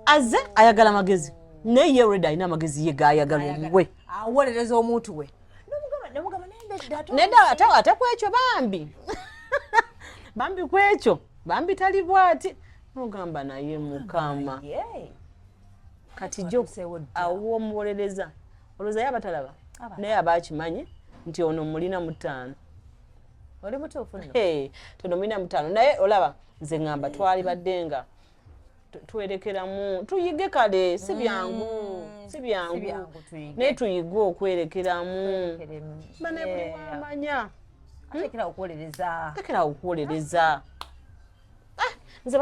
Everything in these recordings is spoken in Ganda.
azze ayagala amagezi naye ye reda alina amagezi ye gayagala omuwe awolereza omuntu we neda ate ate kwekyo bambi bambi kwekyo bambi tali bwati nogamba naye mukama kati jo awo omuwolereza olowooza ye abatalaba naye aba akimanyi nti ono mulina mutaano oli mutuufu tono mulina mutaano naye olaba nze ngamba twali badde nga twerekeramu tuyige kale si mm. byangu si byangu naye tuyige okwerekeramu bane buli wamanya hmm? tekera okuwolereza ah, nze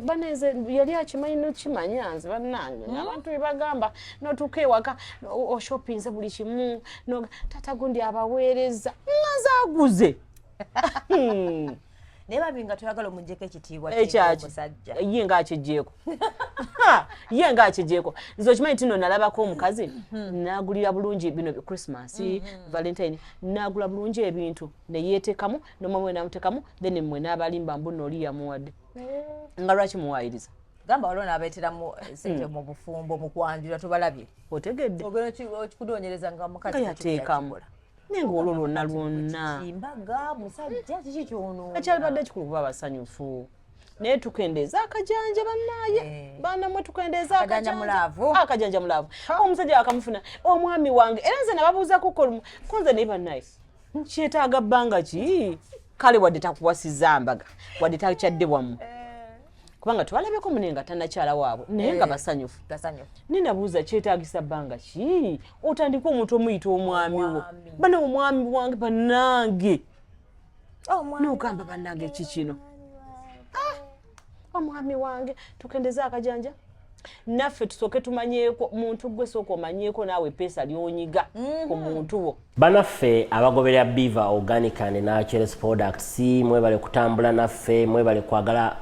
baneze yali akimanyi nokimanya nze banange hmm? abantu bebagamba notuuka ewaka oshopinze buli kimu tata gundi abaweereza nazaguze hmm. naye bambi nga toyagala omujjeko ekitiibwa ekyakimusajja eh, ye nga akijjeeko ye nga akijjeeko nze okimanyi tino nalabako omukazi hmm. nagulira bulungi bino christmas hmm, hmm. valentine nagula bulungi ebintu neyeetekamu nomwami we namutekamu then mwe nabalimba mbu nooli yamuwadde eh. nga lwaki muwayiriza gamba waliwo nabeeteramu eh, sente mu bufumbo mu kwanjula tobalabye otegedde okudonyereza nga mukazi yateekamu naye nga olwo lwonna lwonna mbaga musajja kiki kyono ekyalibadde kikulu kuba abasanyufu naye tukendeeza akajanja banaye eh. baana mwe tukendeeza akajanja mulaavu ah, omusajja wakamufuna omwami wange era nze nababuuzako kolumu konze naye banaye kyetaaga bbanga ki kale wadde takuwasiza mbaga wadde takyadde wamu eh. kubanga twalabeko mune nga tanakyala waabwe naye nga eh, basanyufu ninabuuza kyetagisa bbanga ki otandika omuntu omuyita omwami wo bana omwami wange banange oh, nogamba banange ki kino ah, omwami wange tukendeze akajanja naffe tusooke tumanyeeko muntu gwe sooka omanyeeko naawe epeesa lyonyiga mhm. ku muntu wo banaffe abagoberera biva organic and naturals products mwebale kutambula naffe mwebale kwagala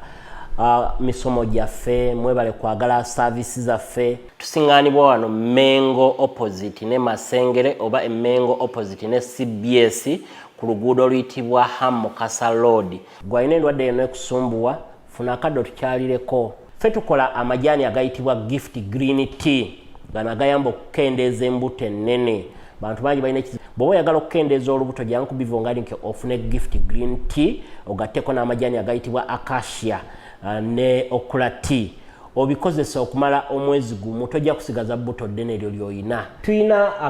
uh, misomo gyaffe mwebale kwagala saavisi zaffe tusingaanibwa wano mengo opposite ne masengere oba emengo opposite ne cbs ku luguudo oluyitibwa ham mukasa lord gwalina endwadde yona ekusumbuwa funa akadde otukyalireko fe tukola amajaani agayitibwa gift green tea gano agayamba okukendeeza embuto ennene bantu bangi balina ekizibu bwoba oyagala okukendeeza olubuto jangu kubivo nga linke ofune gift green tea ogatteko n'amajaani agayitibwa acacia uh, ne okula tea obikozesa okumala omwezi gumu tojja kusigaza bbuto ddene eryo lyolina tulina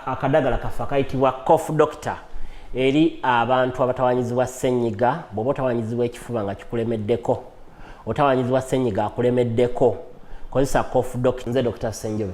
akadagala kaffe akayitibwa cof doctor eri abantu abatawanyizibwa senyiga bwoba otawanyizibwa ekifuba nga kikulemeddeko otawanyizibwa senyiga akulemeddeko kozesa cof doc nze dr senjobe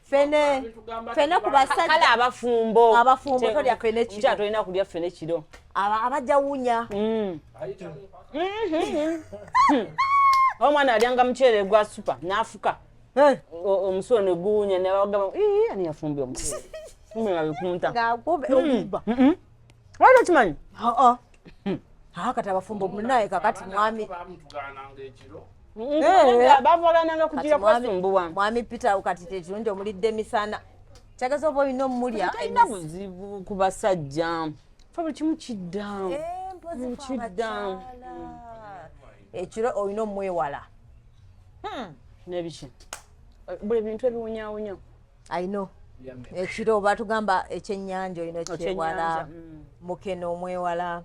fene fene ku basajja kale abafumbo abafumbo tolya fene kiro kya tolina kulya fene kiro aba abajja wunya mm. mm-hmm. omwana alyanga muceere gwa supa n'afuka eh. omusulo ne guwunya nebagamba ani yafumbye omuceere nga bikunta nga mm. mm-hmm. wali okimanyi hmm. ah, kati abafumbo munaye kakati mwami bavagananga kujira kwasumbuwa mwami peter kati tekirungi omulidde emisana kyagaza oba olina omulya talina buzibu ku basajja fe buli kimu kidda eh, kidda ekiro olina omwewala hmm. nebiki buli bintu ebiwunyawunya I know ekiro eh, batugamba ekyenyanja olina okyewala mm. mukene omwewala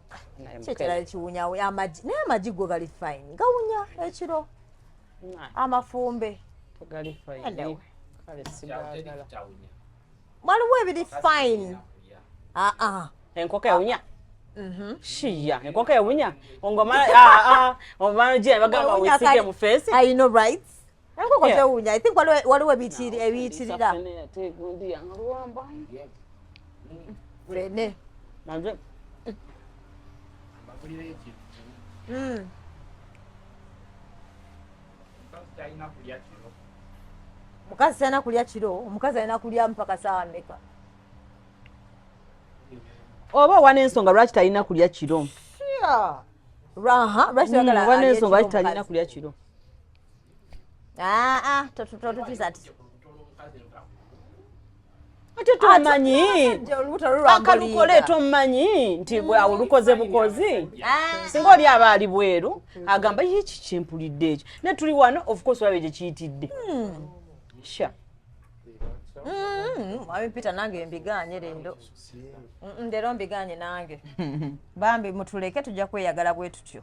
kyekirala kiwunya amagi naye amagi go gali fine gawunya ekiro amafumbe waliwo ebiri fine aa ah, ah. enkoko ewunya mhm. shiya enkoko ewunya ngomala ah, omala jira bagamba wisige mu face i know right Enkoko tewunya. I think waliwo ebiyitirira. Fene. Nanje. Mm. Mukazi sayina kulya kiro, omukazi ayina kulya mpaka saawa meka? Oba owa n'ensonga lwaki talina kulya kiro? Sure. Raha, lwaki talina kulya kiro? Ah, ah, ate tomanyi akalukole tomanyi nti bwawo lukoze bukozi ah. singa oli aba ali bweru agamba ye kikyempulidde ekyo naye tuli wano ofcourse olabe gye kiyitidde hmm. sha hmm, mwami peter nange mbiganye lero lero mbiganye nange bambi mutuleke tujja kweyagala bwe tutyo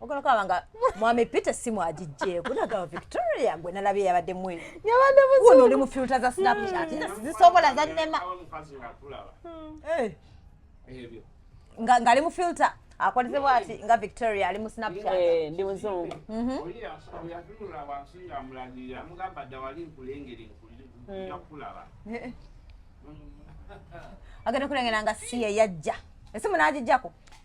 ogenda okulaba nga mwami peter simu agijjeeko nagaba victoria gwe nalabye yabadde mwe yabadde muno oli mu filta za snapchat nze sizisobola zannema ng'ali mu filta akoleze bwati nga victoria ali mu snapchat eh, ndi muzungu mhm. agenda kulengera nga si yeyajja esimu n'agijjako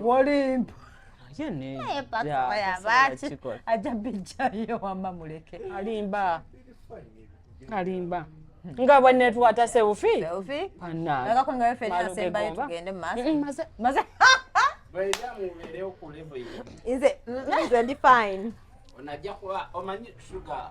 wolimpa ajja bijjayo wamma muleke alimba alimba nga bwenetwata seufi nze ndi fine onajja kuba omanyi suga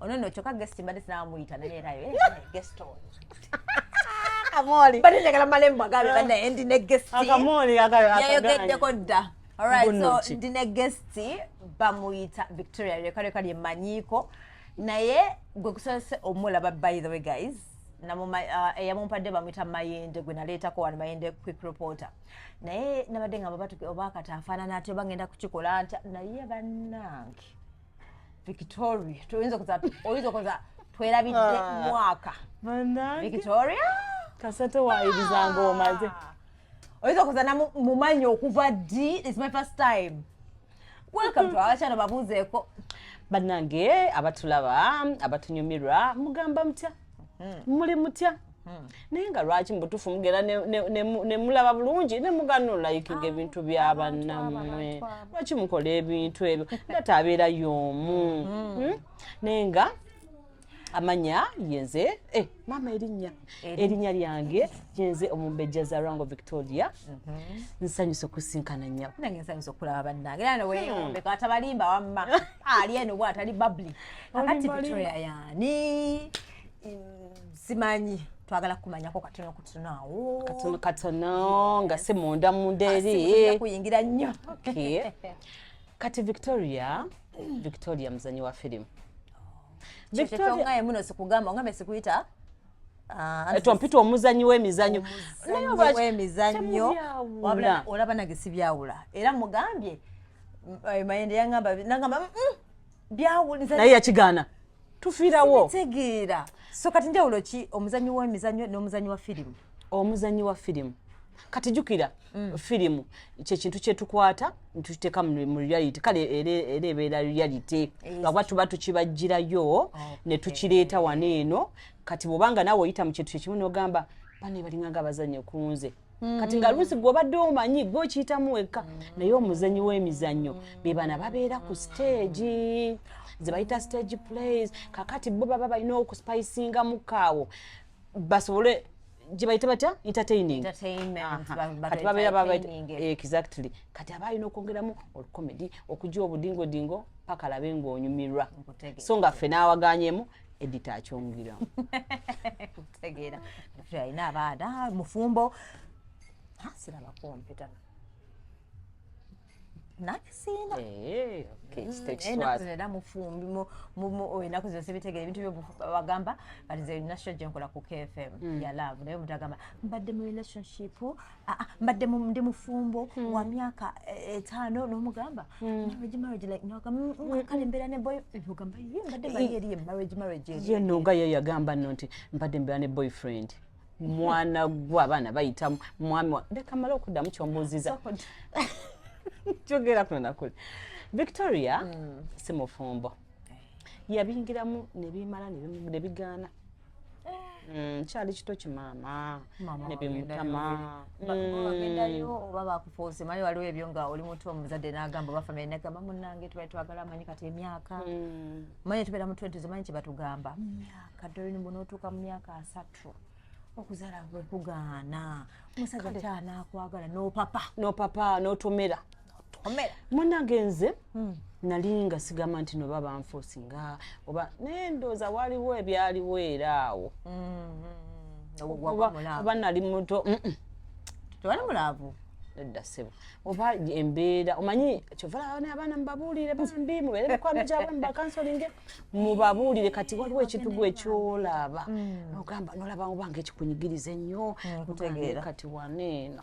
ono no kyoka guest mbadde sinawa muyita naye era eh, guest on akamoli bali njagala malembo agabe bana endi ne guest akamoli agabe yayogeddeko dda alright so ndi ne guest bamuyita victoria leka leka lye manyiko naye gwe kusose omulaba by the way guys uh, eyamumpadde uh, bamuyita mayende gwe naleetako wano mayende quick reporter naye nabadde nga babatu obakata afaanana atyo bagenda kukikola ntya naye bannange victoria toyinza kuza oyinza okuza twerabidde ah. mwaka victoria kasate wayibizanga omaze ah. oyinza okuza namumanyi okuva ddi is my first time welcome to our channel babuuzeeko bannange abatulaba abatunyumirwa mugamba mutya hmm. muli mutya hmm. naye nga lwaki mubutufu mugera nemulaba bulungi nemuganula ikinga ah, ebintu byabanamwe lwaki mukola ebintu ebyo ngate abeera yomu hmm. naye nga amanya yenze eh, mama erinya erinya lyange yenze omumbejja za rango victoria mhm. nsanyusa okusinkana nyabo nange nsanyusa okulaba bannange era neweyombe hmm. katabalimba wamma ali eno bwatali babli kakati victoria yani simanyi twagala kumanyako katono kutono awo katono katono nga si munda munda eri kuyingira nnyo kati victoria victoria muzanyi wa firimu victoria muno sikugamba ngambe sikuyita Ah, eh, tompita omuzanyi wemizanyo wemizanyo olaba nage sibyawula era mugambye eh, mayende yangamba nangamba mm, mm. naye yakigaana tufiirawo tegeera so kati njawulo ki omuzanyi w'emizanyo n'omuzanyi wa firimu omuzanyi wa firimu kati jukira mm. firimu kyekintu kyetukwata ntuteeka mu reality kale era ebeera reality ngaba tuba tukibajjirayo oh, ne tukireeta wano eno kati bwobanga naawe oyita mu kintu kyekimu nogamba bane balinganga abazanye kunze Mm. kati nga luusi gwobadde omanyi gwe okiyitamu wekka mm. naye omuzanyi w'emizannyo bebana babeera ku siteegi zebayita stage plays kakati bo baba balina okuspicinga mukaawo basobole gyebayita batya entertainingexactly eh, kati aba alina okwongeramu olukomedi okugya obudingodingo paka labe ngaonyumirwa so nga ffe n'awaganyemu edita akyongera kutegeera alina abaana mufumbo asiraba kompyuta nakisiina eh, era mufumbi enaku zino sibitegera ebintu byobagamba kati ze national gyenkola ku kfm mm. yalavu naye omuntu agamba mbadde mu relationship Ah, ah, mbadde ndi mufumbo hmm. wa myaka eh, etaano n'omugamba hmm. marriage marriage like noga mm, mm, mm, kale mbeera ne boy eh, ogamba ye mbadde mbadde eri marriage marriage ye noga ye yagamba nno nti mbadde mbeera ne boyfriend mwana gwe abaana bayita mwami wa leka mala okuddamu kyombuuziza kyogera kuno nakuli victoria si mufumbo eh. yabingiramu ne bimala ne bigaana Mm, kyali kito kimaama nebimutama ogendayo mm. oba bakufuuse manyi waliwo ebyo nga oli mutu omuzadde nagamba oba famiry nagamba munange tubali twagala manyi kati emyaka mm. manyi tubeera mu twenti zomanyi kyebatugamba mumyaka dolini bunootuuka mu myaka asatu okuzala bwekugaana omusajja kyanakwagala nopapa nopapa notomera munange nze hmm. nali nga sigamba nti noba banfuusi nga oba naye ndooza waliwo ebyaliwo era awo oba nali muto tewali mulaavu nedda ssebo oba embeera omanyi kyova labana abaana mubabuulire bambi mubeere mikwano gyabwe mubakansolinge mubabuulire kati waliwo ekintu gwe kyolaba mm. ogamba nolaba obanga ekikunyigiriza ennyo mm, kati waneeno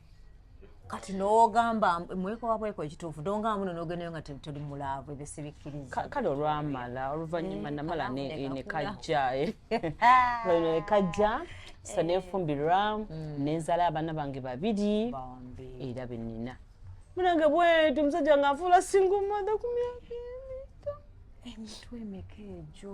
kati nogamba mwekowa bweko ekituufu donga muno nogendayo nga toli mulaavu ebyo sibikkiriza kale olwamala oluvannyuma eh, namala nekajja nekajja sa nefumbirwa mm. nenzala abaana bange babiri era benina munange bweti omusajja nga afuula singa omada ku myaka emito emitwe emeka egyo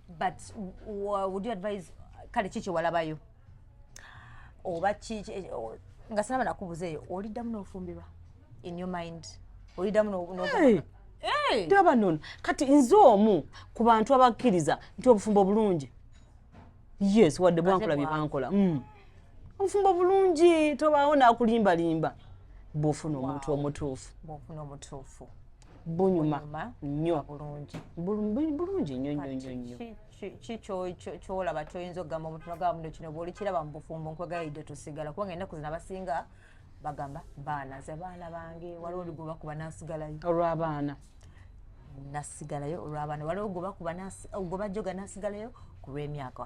but would you advise kale ki kyewalabayo oba ki eh, nga sinaba nakubuza eyo oliddamu n'ofumbirwa in your mind oliddamu ndaba nono kati nze omu ku bantu abakkiriza nti obufumbo obulungi yes wadde bwankola bye bankola mm. obufumbo obulungi tobaawo nakulimbalimba bwofuna omuntu omutuufu bunyuma nnyo bulungi bulungi nnyo nnyo nnyo nnyo ki kyolaba kyoyinza okugamba omuntu nagamba muno kino bwolikiraba mu bufumbo nkwegayidde tusigala kubanga ennaku zino abasinga bagamba baana ze baana bange waliwo oligoba kuba nasigalayo olw'abaana nasigalayo olw'abaana waliwo goba kuba goba joga nasigalayo ku lw'emyaka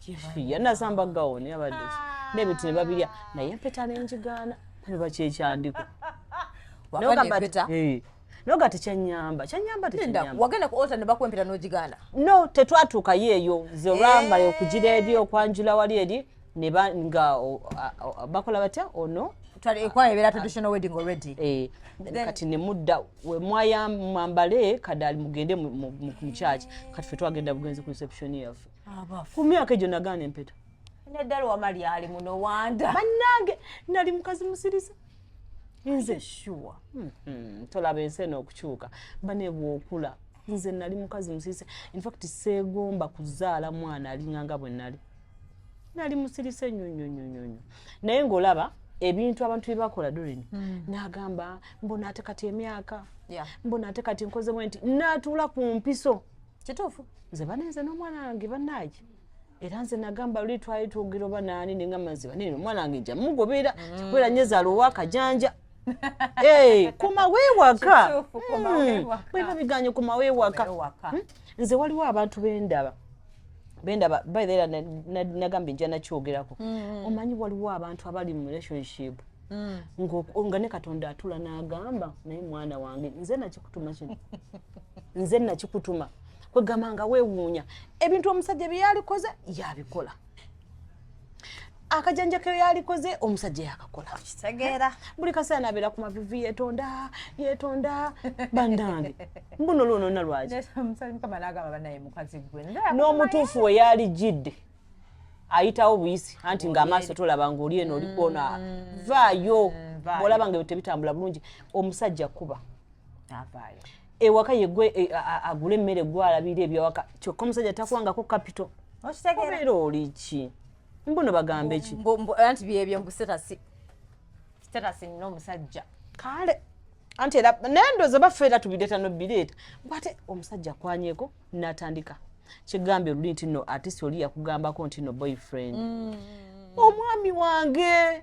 kifiya nasamba gawoni abadde nebintu ne babirya naye empeta nenjigaana kuba kyekyandiko noga tekyanyamba kyanyamba wagenda kuota nebakwempera nogigana no tetwatuukayo eyo nze olwamala eh. okugira eri okwanjula wali eri nga bakola batya ono ekwaebera traditional wedding already eh, kati nemudda wemwayamwambale kadali mugende mu kyaki kati fe twagenda bugenzi ku reception yaffe ku myaka egyo nagaana empeta naddala wama lyali muno wanda bannange nali mukazi musiriza nze shuwa mm-hmm. tolaba ensi eno okukyuka banebwokula nze nali mukazi musirise infact seegomba kuzaala mwana alinganga bwe nali nali musirise nnyo nnyo nnyo nnyo nnyo naye ng'olaba ebintu abantu bye bakola durini hmm. n'agamba mbona ate kati emyaka mbona ate kati nkozemu nti natuula ku mpiso kituufu nze bane nze n'omwana wange banaye era nze nagamba luli twali twogera oba naani ninga maziba nini omwana wange nja mugobera mm. kikubeera nyo ezaala owakajanja eh, kumawewaka bwena hmm. biganye kumawewaka hmm? nze waliwo abantu bendaba bendaba baera nagamba nja nakyogerako hmm. omanyi waliwo abantu abali mu relationship nga ne katonda atula nagamba naye mwana wange nze nakikutuma kino nze nakikutuma kwegamba nga wewuunya ebintu omusajja bye yalikoze yabikola akajanja ke yalikoze omusajja yakakola kitegeera buli kaseera nabeera ku mavivi yetonda yetonda bandange mbuno lwonona lwaki n'omutuufu we yalijjidde ayitawo buyisi anti ng'amaaso tolaba ng'oli eno olikwona mm. vaayo mm, bwolaba nga ebyo tebitambula bulungi omusajja kuba avaayo ewaka yegwe e, agula emmere gwe alabira ebyawaka kyokka omusajja takwangako kapito obeera oli ki mbuno bagambe ki anti byebyo mbu sitasi sitasi nina omusajja kale anti era naye ndooza baffe era tubireeta nobireeta bwate omusajja akwanyeko natandika kigambye oluli nti no atisi oli yakugambako nti no boyfriend mm. omwami wange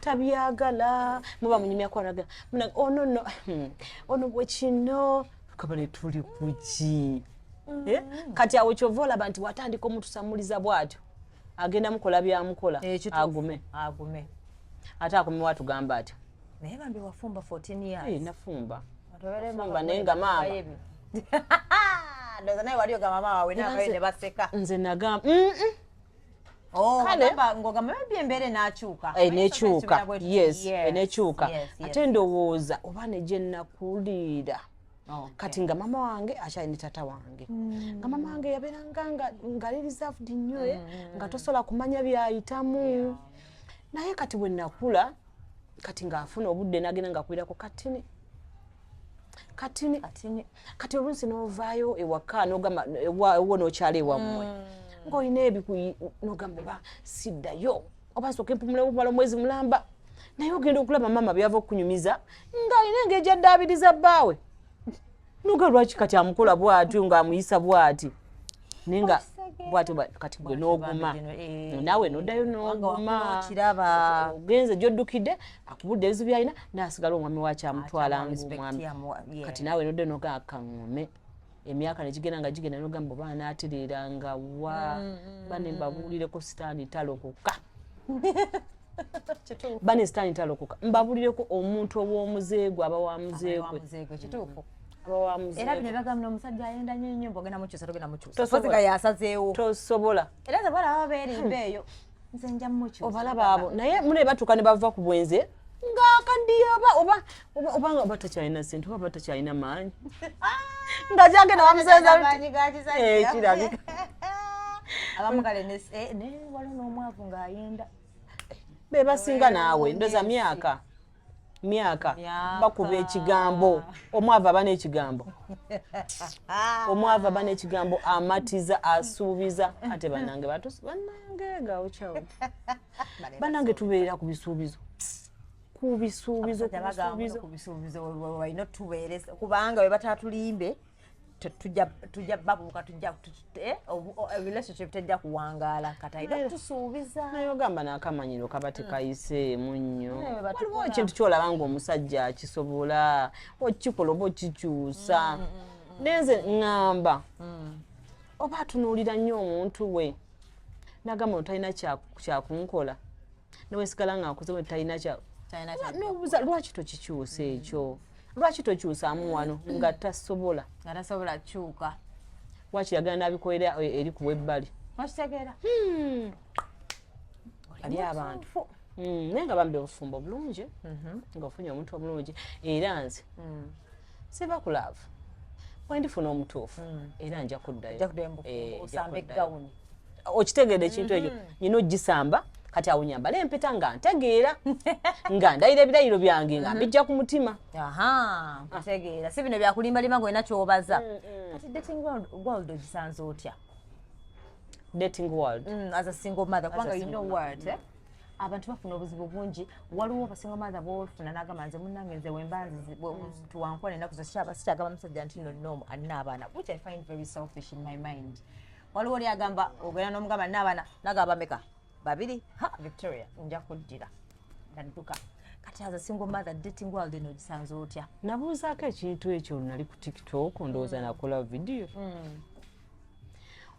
tabyagala muba munyumya kwaraga munange ono no hmm, ono bwe kino kabale tuli kuki mm. eh? kati awo kyova olaba nti watandika omutusamuliza bwatyo agenda mukola byamukola eh, agume agume ate akume watugamba atyo naye bambi wafumba 14 years eh, nafumba nafumba naye nga maama ndoza naye wali ogamba maama wawe nawe ne baseka nze nagamba mm -mm. Oh, kale enekyuka yes enekyuka ate ndowooza oba negyenakuliira oh, kati nga mama wange akyali ne tata wange hmm. nga mama wange yabeeranga ngali reserved nnyo eh, hmm. nga tosobola kumanya byayitamu naye kati bwenakula kati ng'afuna obudde n'agenda ng'akubirako katini katini katini kati oluusi n'ovaayo ewaka n'ogamba ewo n'okyala ewammwe mm. ng'olina ebikuyi n'ogamba oba siddayo oba nsooka empumula obumala omwezi mulamba naye ogenda okulaba maama byava okunyumiza ng'alina engeri gyaddaabiriza bbaawe nuga lwaki kati amukola bwatyo nga amuyisa bwati ninga bwatyo kati gwe noguma eh. nawe nodayo nogumawakiraba ogenze gyodukidde akubudde ebizibu byalina nasigala omwami waki amutwala ngaomwami kati nawe nodayo noga akaŋome emyaka negigenda nga gigenda nogamba oba anatereera nga wa mm, mm, banembabuulireko mm. sitaani talokoka bane sitaani talokoka mbabulireko omuntu ow'omuzeegwe aba wa muzeegwe era bino bagamba nomusajja ayenda nyo nyo mbogenda mukyusa togenda mukyusaga yasazeewo tosobola era zabala baba berimba eyo nze nja mukyusa obalaba abo naye mune batuuka ne bava ku bwenze ng'akaddiye oba oba obanga oba takyalina sente oba takyalina maanyi nga kyagenda bamuseezakirabika abamugalenewalin'omwavu ng'ayenda be basinga naawe ndoza myaka myaka bakuba ekigambo omwava aba n'ekigambo omwava aba n'ekigambo amatiza asuubiza ate banange batusi banange gaokyawo banange tubeerera ku bisuubizo kubisuubizo kubisuubizo walina otubeeresa kubanga bwe batatulimbe tujja babuuka tujja eh, eh, relationship tejja kuwangaala kataina tusuubiza naye ogamba nakamanyiro kaba tekayiseemu mm. nnyo waliwo ekintu kyolaba nga omusajja akisobola okikola oba okikyusa mm, mm, nenze ŋŋamba oba atunuulira nnyo omuntu we nagamba otalina kyakunkola newesigala nga nkuze talina nobuza lwaki tokikyusa ekyo lwaki tokyusamu wano nga tasobola nga tasobola kyuka lwaki yagala nabikolera e, eri ku webbali wakitegeera hmm. ali abantu hmm, naye nga bambi obufumbo bulungi mhm. nga ofunye omuntu omulungi era nze hmm. siva ku laavu wendifuna omutuufu hmm. era nja kuddayookitegeede eh, ekintu ekyo hmm. nyina ogisamba kati awo nyambala empeta nga ntegeera nga ndayira ebirayiro byange nga mhm. mbijja ku mutima ntegeera si bino byakulimbalima nga olina kyobaza mm, mm. kati dating world ogisanze otya dating world mm, as a single mother kubanga you know word eh? abantu bafuna obuzibu bungi waliwo basinga maatha bofuna nagamba nze munange nze wembanzituwankuba mm. nenaku sikyagamba musajja nti nonom alina abaana which i find very selfish in my mind waliwo oli agamba ogenda nomugamba nina abaana nagamba meka babiri ha victoria nja kuddira nadduka kati aza single mother dating world eno gisanze otya nabuuzaako ekintu ekyo nali ku tiktok ndowooza mm. nakola vidiyo mm.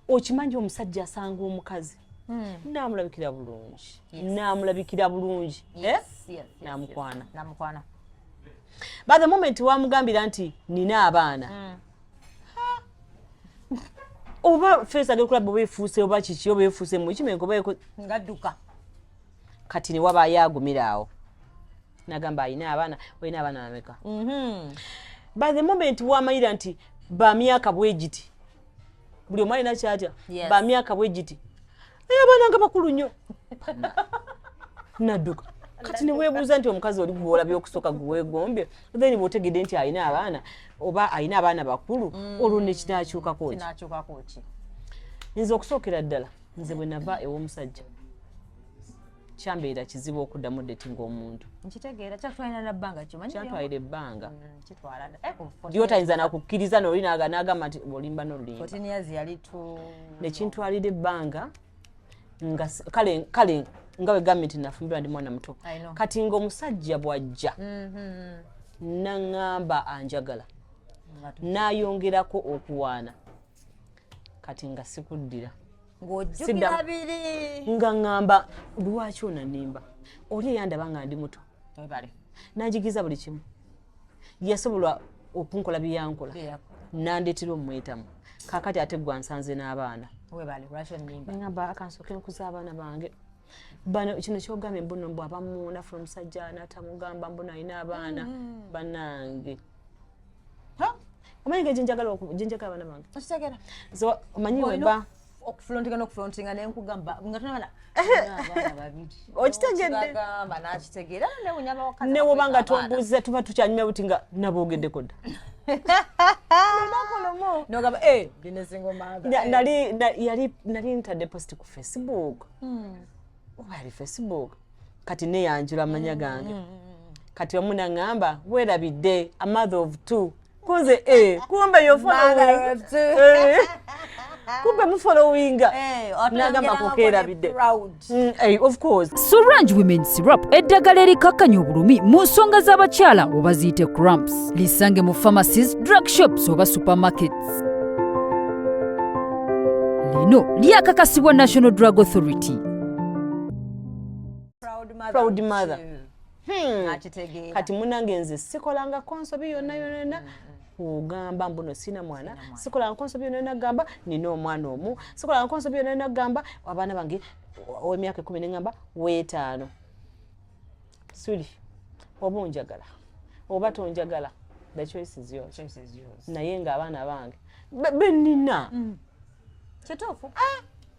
okimanyi omusajja asanga omukazi hmm. namulabikira bulungi namulabikira bulungi eh? namukwana by the moment wamugambira nti nina abaana hmm. oba fesi agenda okulaba oba efuuse oba kiki oba efuuse mukimenga oba ngadduka kati newabaayo agumira awo nagamba alina abaana olina abaana bameka mhm. by the moment wamanyira nti bamyaka bwegiti buli omu alina kyatya bamyaka bwegiti naye abaana nga bakulu nnyo nadduka kati newebuuza nti omukazi oli gwola byokusooka gwewegombye then bwotegedde nti alina abaana oba alina abaana bakulu mm. olwo nekinakyukakoki nze okusookera ddala nze bwenava ew'omusajja kyambeera kizibu okuddamu dating omuntu nkitegeera kyatwalira na bbanga kimanyi kyatwalira ebbanga mm, kitwala eh, lyotayinza nakukkiriza noli nagamba nti olimba nolulimbnekintwalira ebbanga nga kale kale nga wegambye nti nafumbirwa ndi mwana muto kati nga omusajja bwajja mm-hmm. naŋamba anjagala nayongerako okuwaana kati nga sikuddira ng'ojjukira biri nga ŋŋamba lwaki onanimba oli eyandaba nga ndi muto webale nanjigiza buli kimu yasobola okunkola byeyankola nandeetera omumwetamu kakati ate gwa nsanze n'abaana ŋamba akansooke nkuza abaana bange bano kino kyogambye mbuno mbu abamu nafuna omusajja natamugamba mbuno alina abaana mm. banange mm -hmm. omanyi nga gyenjagala gyenjagala abaana bange okitegera so omanyi weba okufulontinga nokufulontinga nenkugamba nga tunabana okitegeddeagamba nakitegera newoba nga tombuuza tuba tukyanyumya buti nga nabogeddeko dda nali ntadde post ku facebook hmm. oba yali facebook kati neyanjula amanya gange kati omu naŋŋamba weerabidde a mother of two kunze e kumbe kumbe mufolowinga nagamba kukeerabidde surrange women syrup eddagala erikakkanya obulumi mu nsonga z'abakyala oba ziyite cramps lisange mu pharmacies drug shops oba supermarkets lino lyakakasibwa national drug authority proud mother hmm. kati munange nze sikolanga konsobi yonna yonana hmm, hmm, kugamba mbuno sina mwana sikolanga konsobi yonna yona gamba nina omwana omu sikolanga konsobi yonna yona gamba abaana bange owemyaka ekumi neŋamba wetaano suli oba onjagala oba tonjagala the choice is yours naye nga abaana bange benina kituufu ah!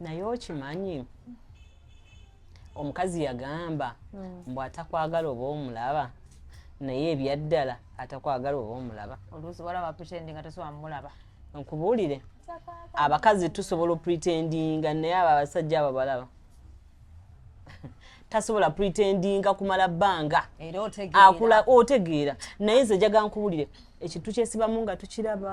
naye okimanyi omukazi yagamba hmm. mbu atakwagala oba omulaba naye ebyaddala atakwagala oba omulaba oluusi walaba putendi nga tosobola mulaba nkubuulire abakazi tusobola opretendinga naye abo abasajja abo balaba tasobola pretendinga kumala bbanga akula otegeera naye nze jaga nkubulire ekintu kyesibamu nga tukiraba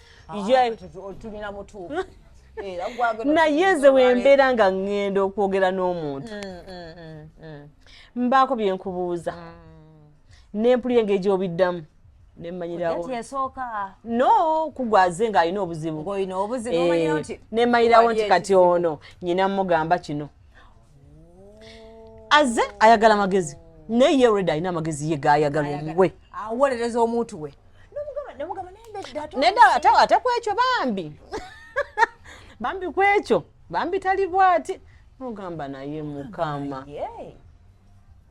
naye nze wembeera nga ŋŋenda okwogera n'omuntu mm, mm, mm, mbaako bye nkubuuza nempulira engeri gyobiddamu nemanyirawo no kugwaze ng'alina obuzibu eh, nemanyirawo nti kati ono nyina mugamba kino aze ayagala amagezi naye yereda alina amagezi ye gayagala omuwe awolereza omuntu we neda ate ate kwekyo bambi bambi kwekyo bambi tali bwati mugamba naye mukama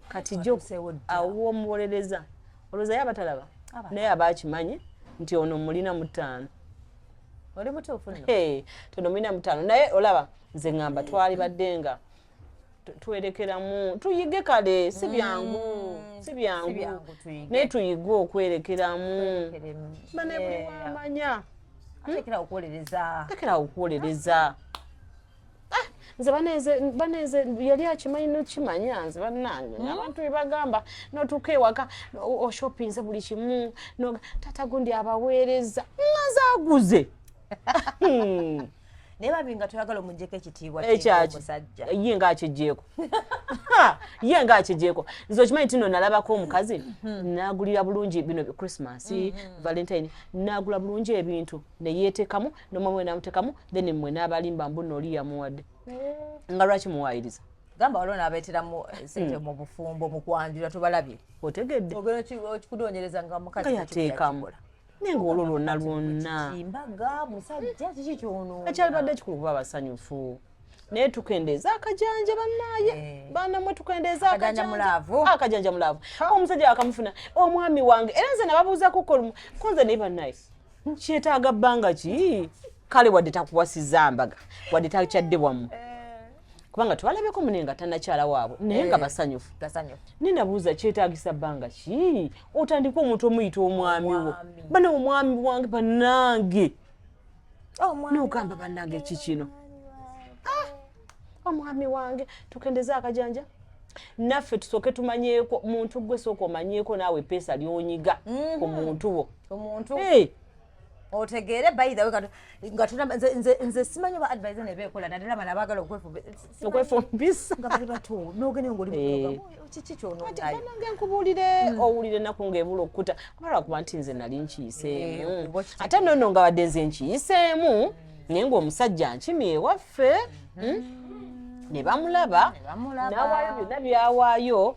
kati jo awo omuwolereza olowooza yaba talaba naye aba akimanyi nti ono mulina mutaano oli mutuufu tono mulina mutaano naye olaba nze ngamba twali badde nga twerekeramu tuyige kale si mm. byangu si byangu naye tuyige okwerekeramu bane buli wamanya hmm? tekera okuwolereza ah, nze baneze yali akimanyi nokimanya nze banange hmm? abantu bebagamba notuuka ewaka oshopinze buli kimu tata gundi abaweereza maze aguze hmm. naye babi nga toyagala omujeko ekitiibwa eh, musajja ye nga akigyeko ye nga akigyeko nze okimanyi tino nalabako omukazi hmm. nagulira bulungi bino christmas hmm, hmm. valentine nagula bulungi ebintu neyetekamu nomama we namutekamu then mwe nabalimba mbu noli yamuwadde eh. nga lwaki muwayiriza gamba waliwo nabeeteramu eh, sente mu bufumbo mu kwanjula tubalabye otegedde okikudonyereza nga mukazi yateekamu naye nga olwo lwonna lwonna mbaga musajja kiki kyono ekyalibadde kikulu kuba abasanyufu naye tukendeeza akajanja banaye eh. baana mwe tukendeeza akajanja mulaavu ah, omusajja wakamufuna omwami wange era nze nababuuzako kolumu konze naye banaye kyetaaga bbanga ki kale wadde takuwasiza mbaga wadde takyadde wamu eh. kubanga twalabeko mune nga tanakyala waabwe naye nga eh, basanyufu nenabuuza kyetagisa bbanga ki otandika omuntu omuyita omwami wo bana omwami wange banange oh, nogamba banange ki kino ah, omwami wange tukendeze akajanja naffe tusooke tumanyeeko muntu gwe sooka omanyeeko naawe epeesa lyonyiga mm-hmm. ku muntu wo otegeere by the way nga tuna nze nze simanyi ba advisor ne bekola na dala bana bagala okwefumbisa okwefumbisa nga bali bato nogene ngoli mukaba eh. kiki kyono ati bana nge nkubulire hmm. owulire naku nga ebulo okuta kubala kuba nti nze nali nkiyise eh, hmm. ate nono nga wadde nze nkiyisemu hmm. naye nga omusajja nkimi ewaffe ne bamulaba nawaayo byonna byawaayo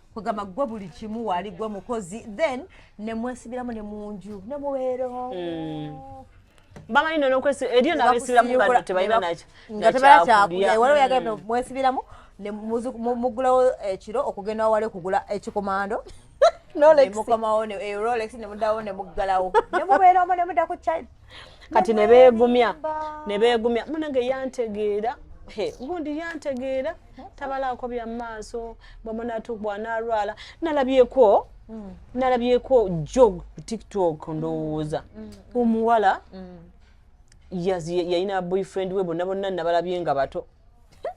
kugamba gwe buli kimu wali gwe mukozi then nemwesibiramu ne munju ne mubeera mm. bamanyi nonokwesi eriyo nabesibiramu nga tebalina nakyo nga tebala kyakulya waliwo yagenda mm. mwesibiramu mugulawo ekiro eh, okugenda wawale kugula ekikomando eh, mukomawo erolex eh, nemudawo nemuggalawo nemubeeramu nemuda ku kati ne beegumya ne beegumya munange yantegeera gundi yantegeera tabalaako bya maaso bwamunatu bwanalwala nalabyeko mm. nalabyeko jog ku tiktok ndowooza mm. omuwala mm. yalina boyfriend we bonna bonna nabalabye nga bato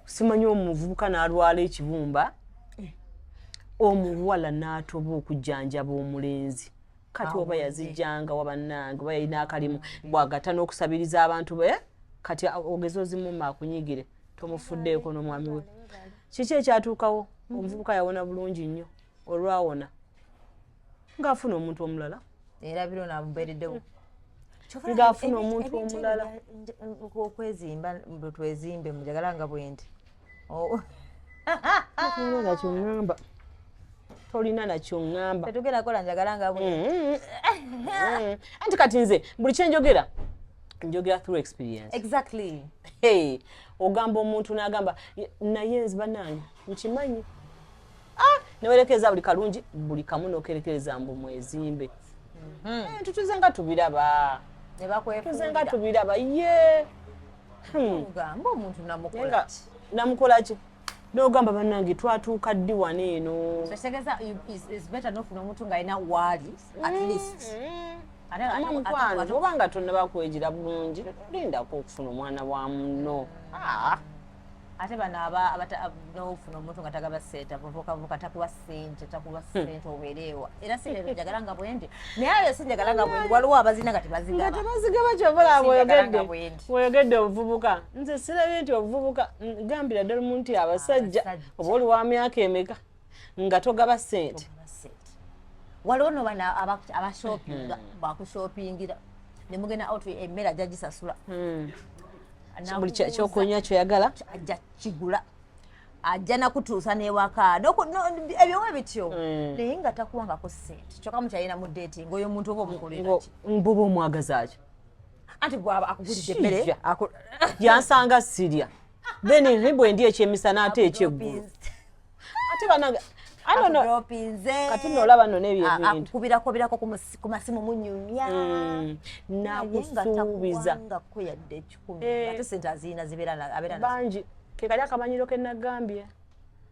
simanyi omuvubuka nalwala ekibumba eh. omuwala natoba okujjanjaba omulenzi kati oba yazijjanga wa bannange oba yalina akalimu bwagata n'okusabiriza abantu be kati ogeze ozimuma akunyigire tomufuddeeko n'omwami we kiki ekyatuukawo mm-hmm. omuvubuka yawona bulungi nnyo olwawona ng'afuna omuntu omulala era biro nabubeereddewo mm. ng'afuna omuntu omulala okwezimba bwetwezimbe mujagala nga bwendi Oh. tolina nakyoŋŋamba tolina nakyoŋŋamba tetugenda kola njagala nga bwe mm-hmm. mm-hmm. anti kati nze buli kyenjogera njogera through experience exactly hey ogamba omuntu n'agamba naye nzi banange nkimanyi ah, newerekereza buli kalungi buli kamu nokerekereza mbu mwezimbe mhm. eh, tutuze nga tubiraba tuze nga tubiraba ye hmm. namukolaki nogamba banange twatuuka ddi wano eno oba nga tonaba kwejira bulungi lindako okufuna omwana wa muno ah. ate bano aba nofuna omuntu nga tagaba sente abavukavuka takuwa sente takuwa hmm. sente obeereewa era sente njagala nga bwendi naye ayo sinjagala nga bwendi waliwo abazina nga tebazigaba tebazigaba kyobola bwoyogedde bwoyogedde obuvubuka nze sirabye nti obuvubuka gambira ddala omuntu abasajja oba oli wa myaka emeka nga togaba sente waliwo no bana abashopinga hmm. bakushopingira nemugenda out emmere ajja gisasula hmm. buli kyokunywa kyoyagala ajja kigula ajja nakutuusa newaka ebyowe bityo hmm. naye nga takuwangako sente kyoka mukyalina mu dating oyo omuntu oba omukoleraky mbuba omwagazakyo anti gwaba akugulidde emmere yansanga sirya then bwendi ekyemisana ate ekyeggulu ate banange kati nolaba no nebyoakukubirakoberako ku masimu munyumya mm. nakusuubiza bangi eh. kekali akamanyiro kenagambye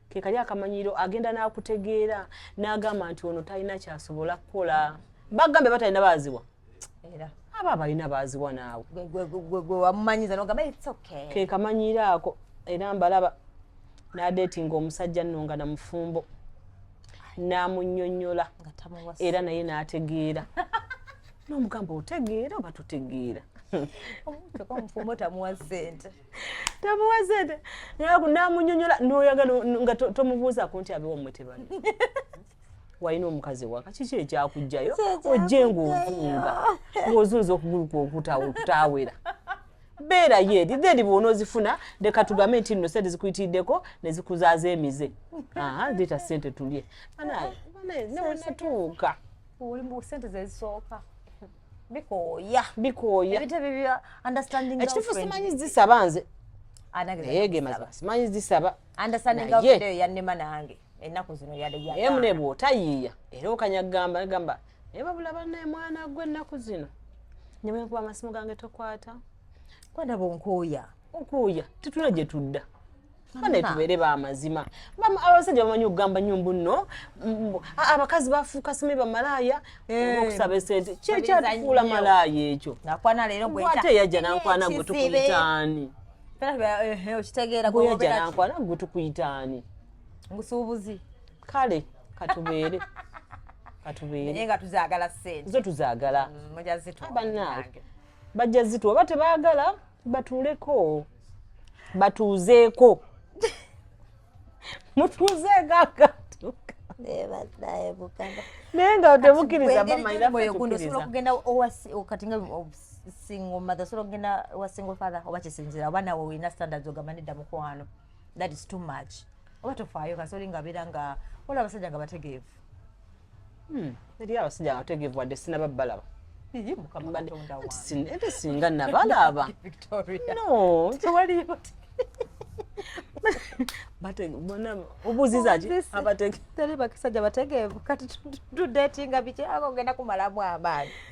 kekali akamanyiro agenda nakutegeera nagamba nti ono talina kyasobola kukola bagambye batalina baziwa era aba abalina baaziwa naawe gwe wamumanyiza nogamba its okay ke kamanyiira ako era mbalaba nadeetinga omusajja nno nga na mufumbo namunyonyola era naye nategeera nomugamba otegeera oba tutegeera omufumbo tamuwa sente tamuwa sente namunyonyola noyaga nga tomubuuza kunti abiwa mwe tebali walina omukazi ewaka kiki ekyakugjayo ojje ngaovunga ngaozunza okugulu kwokutawera beera yeeri then bwona ozifuna leka tugambe nti nno sente zikuyitiriddeko nezikuzaza emize leeta sente tulye banaye banaye newenatuuka sente zezisooka bikooya bikooya ebitebe bya understanding ekitufu simanyi zisaba nze ah, naye ge mazima simanyi zisaba understanding of video yannema nange ennaku zino yademu ne bw'otayiiya era okanya kugamba gamba naye babula bannaye mwana gwe ennaku zino ne bwe nkuba amasimu gange tokwata kwandaba onkuuya onkuuya tetuna gye tudda bane tubeere bamazima abasajja bamanyi okugamba nyo mbu no abakazi bafuuka sime bamalaaya eh. okusaba esente kyekyatufuula malaaya ekyo ate yajja nankwana gwe tukuyitaani eh, eh, okitegeera gwe yajja nankwana gwe tukuyitaani musuubuzi kale katubeere katubeere nga tuzagala sente zo tuzagala mm, bannange bajja zituwa oba tebaagala batuuleko batuuzeeko mutuuzeeko akatuka naye nga temukiriza bamanyiaoyogundosobola okugenda kati nga single mother osobola okugenda wa single father oba kisinzira oba nawe olina standards ogamba nedda mukwano that is too much oba tofaayo kasoli nga abeera nga waliwo abasajja nga bategeevu hmm. eri abasajja nga bategeevu wadde sinaba balaba ate singa nabalaba obuuzizaabatali bakisajja bategeevu kati tudetinga biki ako ogenda kumalamu amaanyi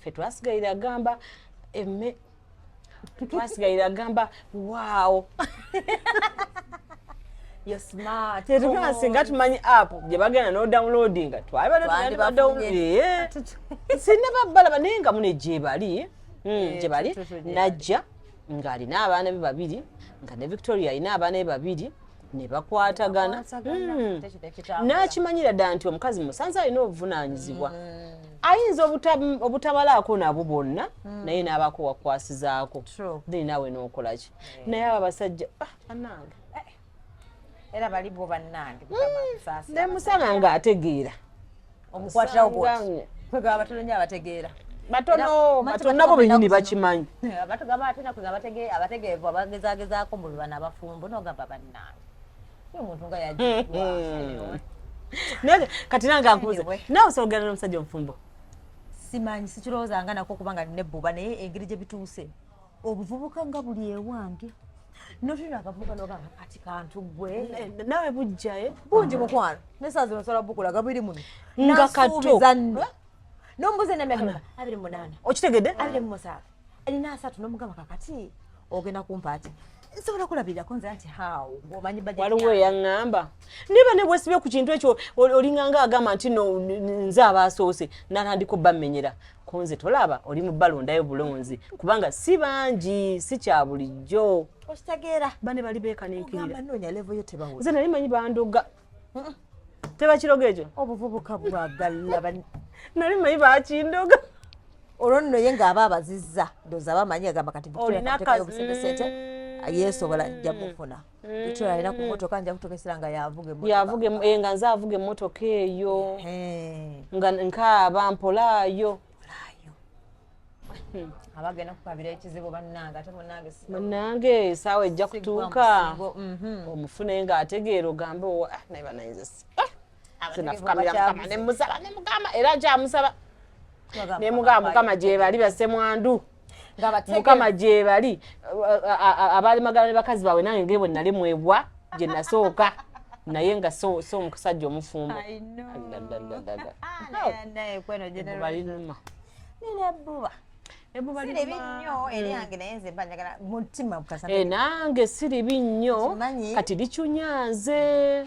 ffe twasigalira agamba emme twasigalira agamba waawo singa tumanyi app gyebagenda nodownloadinga twabadsinna babalaba naye nga mune gyebali hmm, eh, gyebali najja ng'alina abaana be babiri nga ne victoria alina abaana be babiri ne bakwatagana hmm. n'akimanyira ddala nti omukazi musanze alina obuvunaanyizibwa hmm. ayinza obutabalaako nabo bonna hmm. naye n'abaako wakwasizaako then naawe n'okola ki naye abo abasajja ah, anange eh. era baliwo bannange nemusana ng'ategeera omukwatirawo bwoti kwegaba batono nyo abategeera batono batono nabo benyini bakimanyi batugamba ate nakuga abategeevu abagezagezaako mbu bana abafumbo nogamba bannange omuntu nga yajwa hmm. kati nange akubuze nawe osobogerana omusajja omufumbo simanyi sikirowoozanga nako kubanga nine ebbuba naye engeri gye bituuse obuvubuka nga buli ewange notulina akavubuka nogamba kati kantu gwe nawe bujjaye eh? bungi mukwano nesazi nosobola bukulaga biri muno nga kato nombuza enamyaka abiri munana okitegedde abiri mumusaavu erina asatu nomugamba kakati ogenda kumpaati nsobola kulabirako nze nti how omanyi waliwo eyaŋŋamba niba ne bwesibye ku kintu ekyo olinganga agamba nti no nze abaasoose natandika obamenyera Kunze tolaba oli mu balondayo bulonzi kubanga si bangi si kya bulijjo. Okitegeera bane bali beekaninkirira. Noonya levo yo tebawola. Nze nali manyi bandoga. Tebakiroga ekyo. Obuvubuka bwagala bani. Nali manyi bakindoga. Olwo nno ye ng'aba abazizza ndowooza aba amanyi agamba kati olina kasente yeesobola nja mufuna. Victoria alina ku mm. motoka nja kutuuka essira nga yavuga yavuga eh, nga nze avuga emmotoka eyo nga nkaaba mpolaayo hmm. abagenda kukabira ekizibu bannange ate munange munange esaawa ejja kutuuka mhm. omufune nga ategeera ogambe owa ah, naye banayinza si ah! sinafukamiraukama nemusaba nemugamba era kyamusaba nemugamba mukama gyebali basemwandu mukama gyebali abaali magala ne bakazi baabwe nange ngebwe nali mwebwa gye nasooka naye nga so omusajja omufumbo nange siribi nnyo kati licunya nze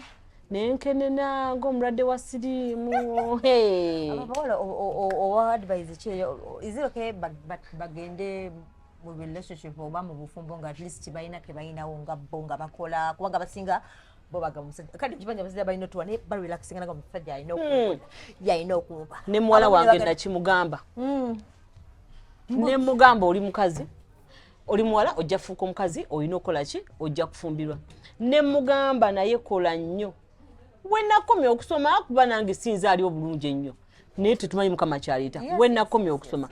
nenkenena ng'omulwadde wa siriimu abawala owa advise ki iziroke bagende mu relationship oba mu bufumbo nga atleast balina ke balinawo nga bo nga bakola kubanga basinga bobaga musajja kati kibanja musajja balina otuwa naye barelaxinga naga musajja alina hmm. okumpa yalina okumpa ne muwala wange nakimugamba hmm. ne mugamba oli mukazi oli muwala ojja kufuuka omukazi olina okukola ki ojja kufumbirwa ne mugamba naye kola nnyo wenakomya okusoma kuba nange sinza ali obulungi ennyo naye tetumanyi mukama kyaleeta wenakomya okusoma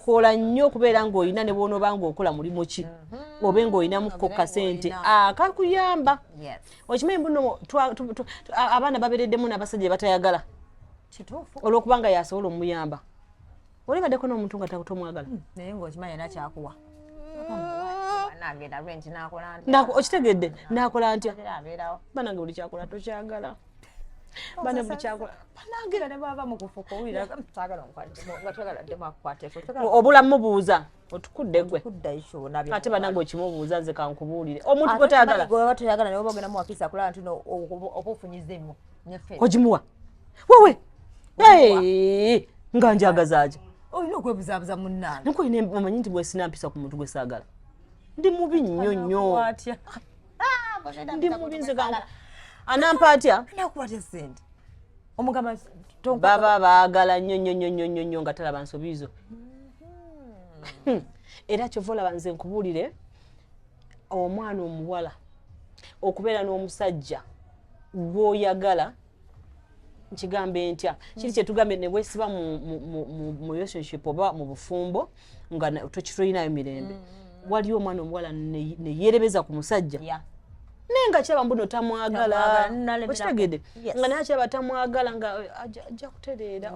kola nnyo okubeera ng'olina ne bwonoba ng'okola mulimu ki mm-hmm. obe ng'olinamuko kasente akakuyamba ah, okimanyi buno abaana babereddemu n'abasajja batayagala olw'okuba nga yasobola omuyamba Oli badde kono omuntu nga takuto mwagala. Hmm, naye ngo kimanya na kyakuwa. Nagenda rent nakola ntya. Nako okitegedde nakola ntya. Bana ngoli kyakola to kyagala. Bana mu kyakola. Bana ngira ne baba mu kufuko wira. Tagala nkwali. Ngatagala dema kwate. Obula mubuuza. otukudde gwe ate banange okimubuuza nze kankubuulire omuntu gwetayagalaoyagala naye oba ogenda muwakisa kulaba nti oba ofunyiza emu ogimuwa wewe nga njagazaaki olina okwebuzabuza munange nkulina omanyi nti bwesina mpisa ku muntu gwe saagala ndi mubi nnyo nnyo ah, ndi mubi nze anampa atya nakuwatya sente omugamba baba baagala nnyo nnyo nnyo nnyo nnyo nnyo nga talaba nsobi zo mm-hmm. era kyova olaba nze nkubuulire omwana omuwala okubeera n'omusajja gwoyagala nkigambe ntya kiri kyetugambye newesiba mu relationship oba mu bufumbo nga tokitulinayo mirembe mm, mm, mm. waliwo omwana omuwala neyerebeza ku musajja naye nga kyaba mbuno tamwagala okitegede nga naye kyaba tamwagala nga eh, ajja kutereera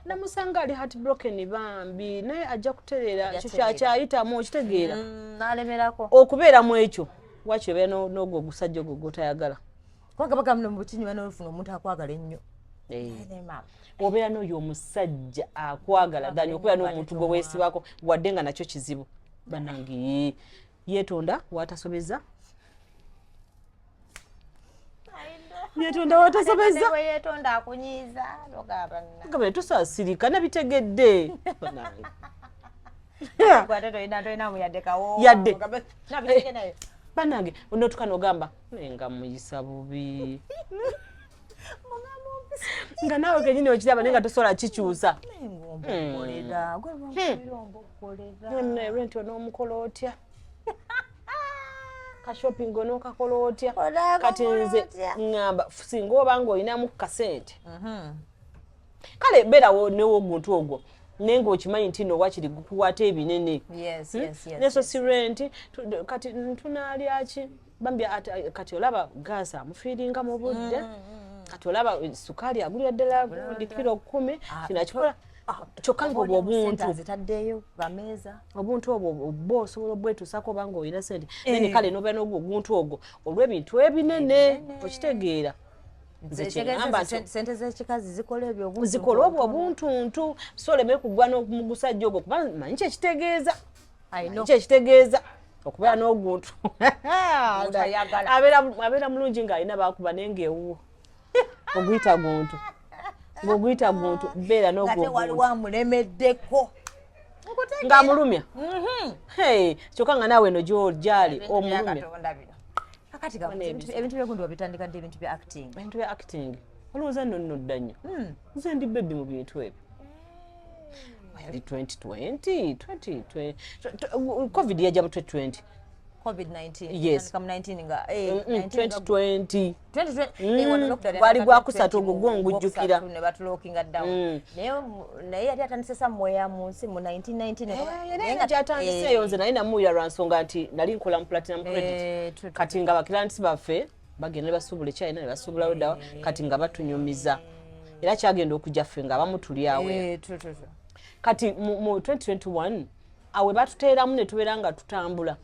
namusanga ali hat broken bambi naye ajja kutereera kyakyayitamu okitegeera okubeera mu ekyo wakiri obeera n'ogwo ogusajja ogwo gwotayagala kubanga bagamba no mubukinywa n'olufuna omuntu akwagala ennyo eh. obeera n'oyo omusajja akwagala dani okubeera n'omuntu gwe weesibako wadde nga nakyo kizibu banange yeetonda watasobeza yetonda watasobeza yetonda akunyiza logaba na kama tusasirika nabitegedde yadde banange onotukana ogamba nga muyisa bubi nga naawe kenyini okiraba naye nga tosobola kikyusa renti onoomukola otya kashopping onookakola otya kati nze ngamba singa oba nga olinamu kasente mhm. kale beerawo newomuntu ogwo naye ngaokimanyi nti no wakiri gukuwata ebinene hmm? neso si renti kati tunalyaki bambi kati olaba gaasi amufiiringa mu budde mm, mm, mm. kati olaba eh, sukaali agulira ddala gundi kiro kumi ah, kino akikola ah, ah, kyokka ngaobwo obuntu obuntu obwo oba osobola obwetuusako obanga olina sente eh. nene kale nobeera nogwo oguntu ogwo olw'ebintu ebinene okitegeera zikola obwo obuntuntu so oleme kugwa nomugusajja ogwo kuba manyi kyekitegeeza kyo ekitegeeza okubeera n'oguntu abeera mulungi ng'alina bakuba naye ng'ewuwo oguyita guntu ng'oguyita guntu beera n'oguntuwamulemeddeko ng'amulumya mhm. kyokka nga naawe eno gyali omulumya kakati ebintu byegundi wabitandika ddi ebintu bya acting ebintu bya acting olowooza nno nnodda nnyo hmm. nze ndi bebi mu bintu ebyo yali 2020 2020 covid yajja mu 2020 gwali gwakusatu ogwo gwo ngujjukira mm. naye yali atandise samweya mu nsi mu 1999 naye namuwulira lwa nsonga nti nali nkola mu platinum credit eh, kati nga bakirantisi baffe bagenda ne basuubula ekyayina ne basuubulawo ddawa kati nga batunyumiza era kyagenda okujja ffe nga abamu tuli awo eh, kati mu 2021 awe batuteeramu ne tubeera nga tutambula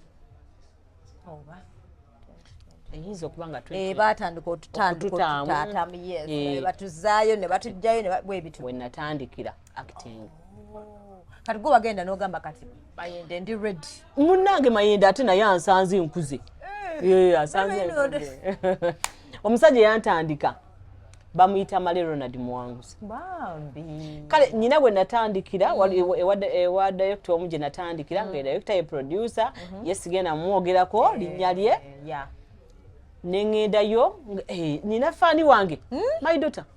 eyinza okuba nga eh, batandika otutandika otututaatamu yes eh. batuzaayo ne batujjayo ne bwebitwenatandikira acting oh. kati gwe wagenda n'ogamba kati mayende ndi redi munnange mayende ate naye ansanze nkuze eh. asanze omusajja yantandika bamuyita male ronald muwanguzi kale nyina gwe natandikira ewa directo omu gye natandikira nga mm. directo ye producer mm-hmm. ye sigenda mumwogerako eh, linnya lye eh, nengendayo nyina faani wange hmm? my daughter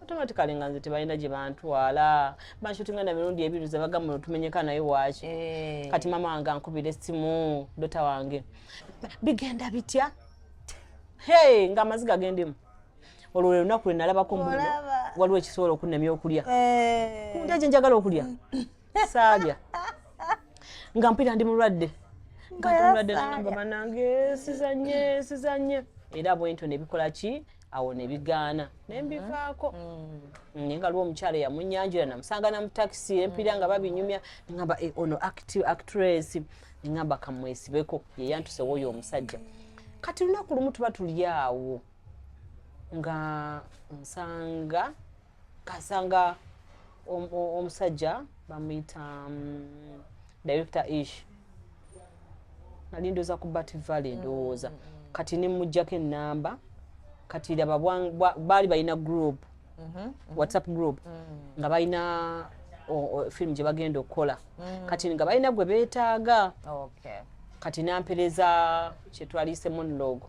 automatically nga nze tebalina gye bantwala banshutinga na mirundi ebiri ze bagamba otumenyeka naye waaki eh. kati mama wange ankubira essimu dota wange bigenda bitya hey nga amaziga gendemu olwo lwe lunaku lwe nalabako mbu waliwo ekisobola okunnemya okulya eh. kundaje njagala okulya saalya nga mpita ndi mulwadde nga ndi mulwadde namba banange sizanye sizanye era bwentyo nebikola ki awo ne bigaana ne mbivaako mm-hmm. naye nga lwo omukyala eyamunyanjula namusanga na mu takisi empira nga babinyumya neŋamba eh, ono actress neŋamba kamwesibeko ye yantuse woyo omusajja kati lunaku lumu tuba tuli awo nga nsanga kasanga om- o- omusajja bamuyita mm, director ish nali ndoza ku bat valley ndowooza kati nemujjako enamba kati laba bwa- bwa- baali balina group whatsapp group nga balina o- o- film gye bagenda okukola kati nga balina gwe beetaaga okay kati nampereza kyetwalise monologue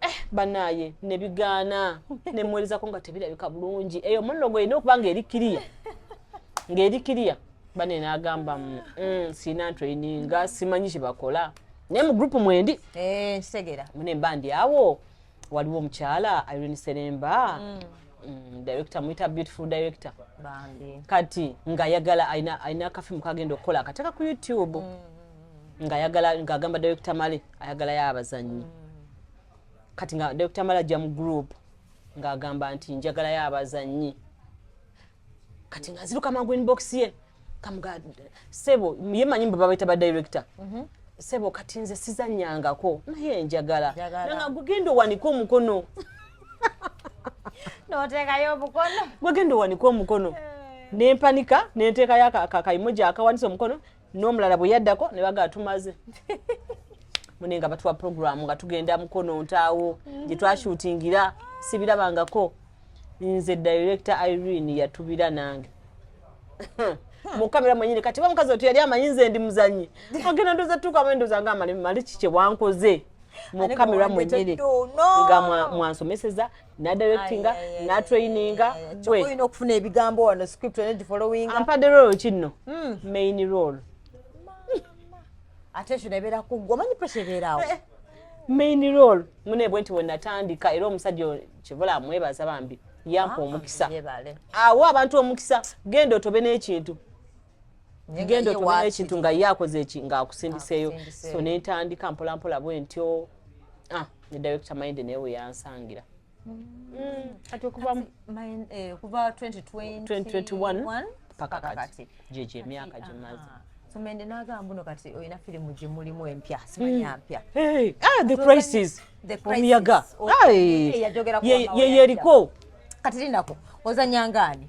Eh, banaye nebigaana nemuwerezako nga tebirabika bulungi eyo munogo erina okuba nga eri kiriya ngaeri kiriya bane nagamba mm, mm, sirina ntraininga simanyi kyebakola naye mu gurupu mwendi eh, kitegera mune mba ndi awo waliwo omukyala irene seremba mm. Mm, director muyita beautiful director kati ngayagala alina akafimu kagenda okukola akateka ku youtube mm. ng'agamba direkita male ayagalayo abazannyi kati nga direkita male ajja mu group ng'agamba nti njagalayo abazannyi kati ng'aziruka mangu inbox ye kamuga sebo ye manyi mbu babaita ba director mhm. sebo kati nze sizannyangako naye njagala nanga gugenda owanika omukono notekayo omukono gwegenda owanika omukono eh. nempanika nenteekayo akayimoja akawanisa omukono n'omulala bwe yaddako ne bagaa tumaze mune nga batuwa puroguramu nga tugenda mukono ntaawo gye twashutingira sibirabangako nze director irene yatubira nange mukamera mwenyini kati bamukazi otu yali amanyi nze ndi muzanyi agenda ndoza tuka mendoza nga mali mali kikye wankoze mukamera mwenyini nga mwansomeseza nadirectinga natraininga olina okufuna ebigambo wano script olina gifollowing ampadde role ki nno hmm. main role ate ekyo nebeera kuggwa omanyi pressure ebeeraawo eh, eh. main role mune bwe nti wenatandika era omusajja kivula amwebaza bambi yampa ah, omukisa awo abantu omukisa genda otobe n'ekintu genda otunula ekintu nga ye akoze eki nga akusindiseeyo so nentandika mpolampola bwe ntyo ah, ne director mind naye weyansangira kuva 2021 paka kati gyegyo emyaka gyemaze ah. tumende nagamba buno kati olina firimu gyemulimu empya simanya hmm. mpya ah, the crisis omuyaga yeyeriko kati linako ozanyangaani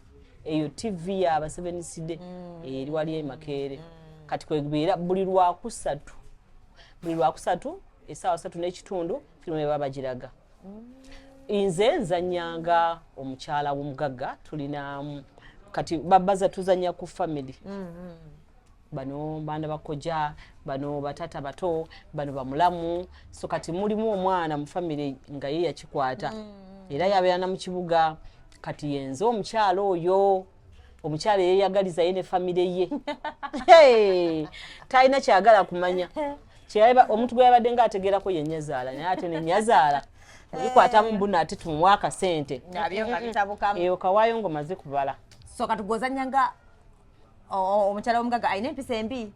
eyo tv ya baseveniside mm. eh, eri wali emakeere mm. kati kwebeera buli lwakusatu buli lwakusatu esaawa satu n'ekitundu firimu eba bagiraga mm. nze nzanyanga omukyala womugagga tulina kati babaza tuzanya ku famiry bano baana bakojja bano batata bato bano bamulamu so kati mulimu omwana mu famire nga ye yakikwata mm. era yabeera na mu kibuga kati yenze omukyalo oyo omukyalo eyeyagaliza ye ne famire ye talina kyagala kumanya omuntu gwe yabadde nga ategeerako ye nyazaala naye ate ne nyazaala obikwatamu mbuno ate tumuwa akasente eyo kawaayo ngaomaze kubala so kati gwozanya nga omukyala omugaga alina empisa embi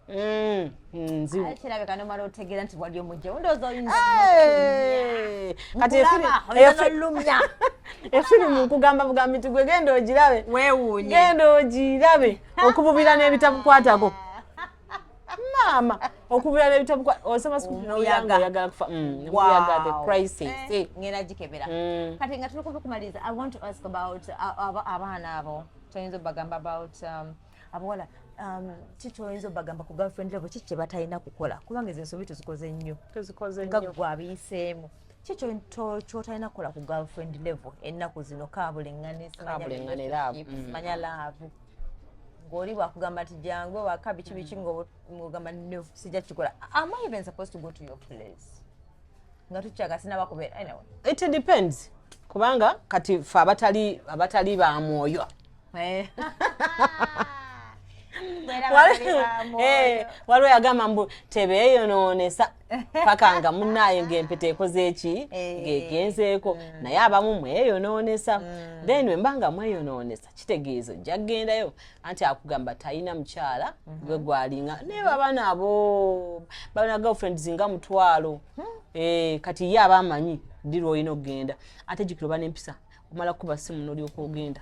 mm, mm, kirabika nomala otegeera nti wali omujja ndoozi oyinzalumya efirimu nkugamba bugambi ti gwe genda ogirabe genda ogirabe okububira n'ebitabukwatako maama okubira n'ebitabukwata osoma sikuoyagala kufa mm, omuyaga the crisis eh, eh. ngenda gikebera kati nga tuli kubikumaliza i want to ask about uh, abaana abo kyoyinza obagamba about um, abawala um, ki kyoyinza obagamba ku girlfriend level ki kyebatalina kukola kubanga ezo ensobi tuzikoze nnyo nga gwe abiyiseemu ki kyotalina kukola ku girlfriend level ennaku zino kabuleŋŋanesimanya mm. laavu ng'oli wakugamba nti jangu waka biki biki mm. ng'ogamba no sijja kikola am i even supposed to go to your place nga tukyaga sinaba kubeera anyway it depends kubanga kati fe abatali abatali ba mwoyo eh. eh, waliwo yagamba mbu tebeeyonoonesa paka nga munaaye ngaempeta ekoze eki eh. ngegenzeeko mm. naye abamu mweyonoonesa mm. then wemba nga mweyonoonesa kitegeeza ojja kugendayo anti akugamba talina mukyala mhm. gwe gwalinga naye babaana abo babana girlfriends nga mutwalo hmm. eh, kati ye aba amanyi ddi lwolina okugenda ate jukira oba nempisa omala kuba simu nolyoka ogenda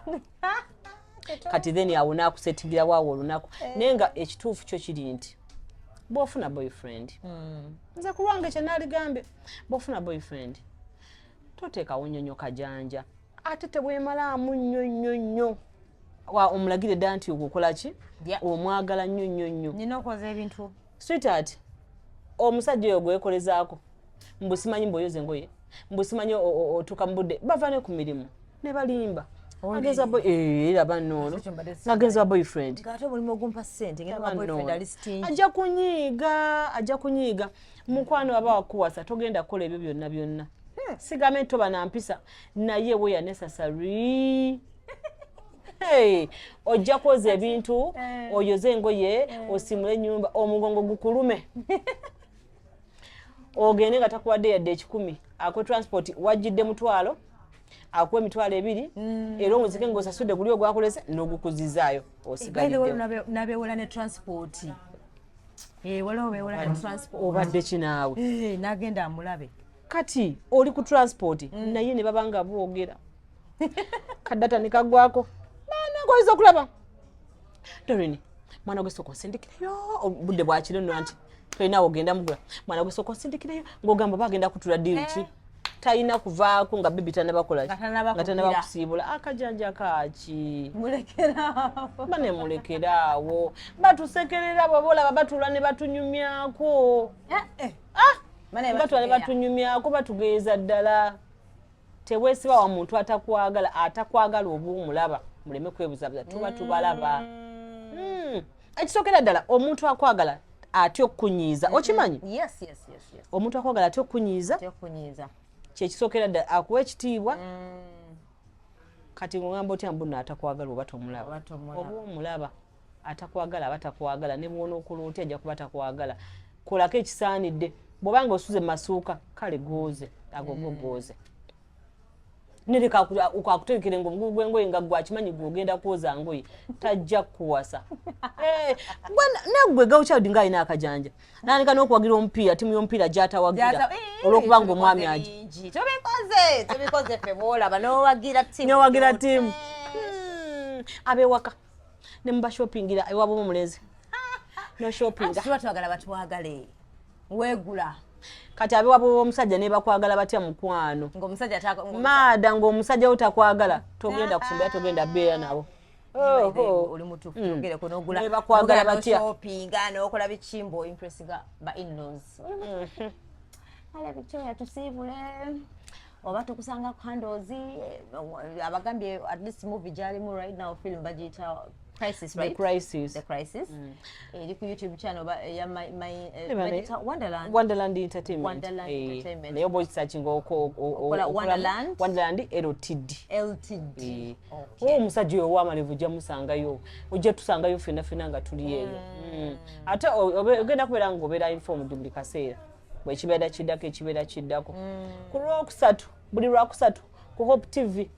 kati then awo nakusetingira waawo olunaku eh. naye nga ekituufu kyo kiri nti bwofuna boyfriend hmm. nze kulwange kyenaligambe bwofuna boyfriend toteekawo nyonyo kajanja ate tebwemalaamu nnyo nnyo nnyo wa omulagire dda nti ogwo okola ki omwagala nnyo nnyo nnyo nina okoza ebintu sweetheart omusajja oyo gwekolezaako mbu simanyi mbuoyoza engoye mbu simanyi otuuka mu budde bava ne ku mirimu ne balimba agenza boy eh era banono agenza boyfriend gato buli mogumpa sente ngenda ba boyfriend ali stingy aja kunyiga aja kunyiga mukwano aba wakuwasa togenda kola ebyo byonna byonna hmm. sigame to bana mpisa naye weya necessary hey, ojja kwoza ebintu eh. oyoze engoye eh. osimule enyumba omugongo gukulume ogende nga takuwadde yadde ekikumi akuwe transport wajjidde mutwalo akuwa emitwalo ebiri mm. era omuzike nga osasudde guli ogwakulese nogukuzizaayo osigaliddenabewola ne transport eh, obadde kinaawe nagenda amulabe kati oli ku transport mm. naye ne baba nga boogera kadata ne kagwako banange oyinza okulaba dorini mwana gwe sooka onsindikireyo obudde bwakiro nno nti tolinawo ogenda mugula mwana gwe sooka onsindikireyo ng'ogamba oba agenda kutula diiru ki eh. talina kuvaako nga bibi tanabakolaki nga tanabakusiibula akajanja ah, kaaki ba ne mulekeraawo batusekerera baba olaba batuula ne batunyumyako eh, eh. ah! batwale batunyumyako batugeeza ddala tewesiba wa muntu atakwagala atakwagala oba omulaba muleme kwebuzabuza tuba mm. tubalaba hmm. ekisookera ddala omuntu akwagala atya okukunyiiza mm-hmm. okimanyi omuntu akwagala atya okukunyiiza kyekisookera ddala akuwa ekitiibwa mm. kati ngogamba otya mbuno atakwagala oba tomulaba oba omulaba Atakwagala aba takwagala ne bw'onookola otya ajja kuba takwagala. Kolako ekisaanidde. Bw'oba nga osuze mu masuuka kale gooze ago go gooze. Nereka akutegekere ng'obugugu bw'engoye nga ggwe akimanyi ggwe ogenda kwoza ngoye tajja kukuwasa. Eh, Naggwe girl child ng'alina akajanja n'aleka n'okuwagira omupiira ttiimu y'omupiira gy'atawagira eh, olw'okuba ng'omwami agi. Tubikoze tubikoze ffe bw'olaba n'owagira ttiimu. N'owagira ttiimu. Hmm. Ab'ewaka. ne mu bashopingira ewabo omulenzi no shopping tuba twagala batwagale wegula kati abe wabo omusajja ne bakwagala batya mukwano ng'omusajja ta maada ng'omusajja wo takwagala togenda kufumbira togenda beera nabo oli mutufu mm. ogereko nogula bakwagala batya shoppinga nokola bikimbo impressive ba in-laws mm-hmm. ala victoria tusiibule oba tukusanga ku handles eh, abagambye at least movie gyalimu right now film bagiyita crisis right the crisis the crisis mm. eri ku youtube channel ba eh, ya my my eh, bagiyita wonderland wonderland entertainment wonderland eh, entertainment nayo boy searching oko okola wonderland wonderland ltd ltd eh. okay. oh musajja oyo wamalevu ojja musangayo ojja tusangayo fena fena nga tuli eyo mm. mm. ate ogenda kubeera nga obeera informed buli kaseera bwekibeera kiddako ekibeera kiddako mm. ku lwokusatu buli lwakusatu ku hope tv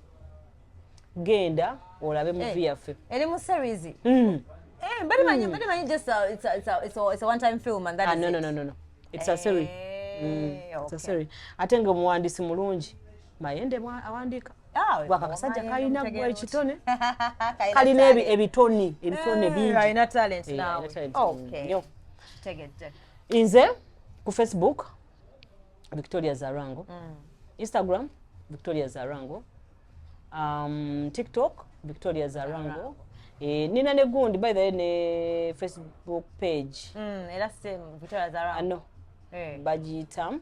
genda olabe eh, muvi yaffe eri mu series mm. eh, bali manyi hmm. bali manyi just a, it's a, it's a, it's a, it's a one time film and that ah, is no, no, no, no, no. it's a series eh, mm. okay. it's a series ate nga omuwandiisi mulungi mayende awandiika ah, bwaka kasajja kalina gwa ekitone kalina ebitoni ebitone bingi Inze ku Facebook Victoria Zarango. Mm. Instagram Victoria Zarango. Um, TikTok Victoria Zarango. Zarango. Eh, nina ne gundi by the way ne Facebook page. Mm, era same Victoria Zarango. Ano. Ah, hey. Eh. Bajitam.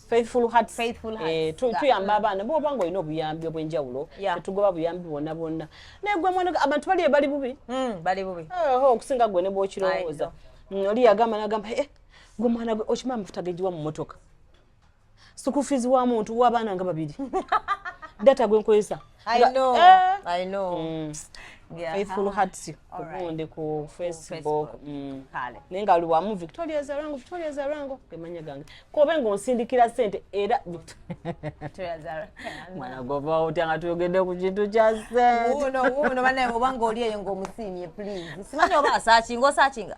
faithful hearts faithful hearts eh tu tu yamba abana bo bango ino buyambi obwenjawulo yeah. tugoba buyambi bona bona ne gwe mwana abantu bali bali bubi mm bali bubi eh ho kusinga gwe ne bo kirowoza mm, oli yagamba nagamba eh gwe mwana gwe ochima mfuta gejiwa mu motoka sukufizi wa muntu wa bana nga babiri data gwe nkoyesa I know. Eh. I know. Mm. Yeah. Faithful Hearts ku gundi ku Facebook. Mm. Kale. Nenga luwamu Victoria Zarango, Victoria Zarango kemanya gange. Ko bengo nsindikira sente era Victoria Zarango. Mwana gova otanga tuyogede ku kintu kya sente. Uno uno bana obanga oli eyo ngo musimye please. Simanya oba sachi ngo sachinga.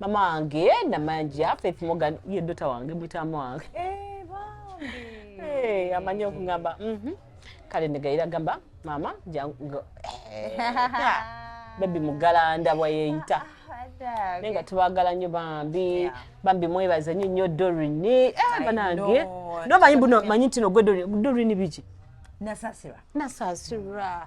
mama wange namanja faith morgan ye dota wange mutama wange eh, eh, amanyi okugamba mhm. kale negayira gamba mama jangu eh, bebi mugalanda bweyeyita ah, ah, naye nga tubagala nnyo bambi bambi mwebaza nyo nyo dorini banange nomanyi buno manyi ntino gwe dorini biki nasasirwa nasasirwa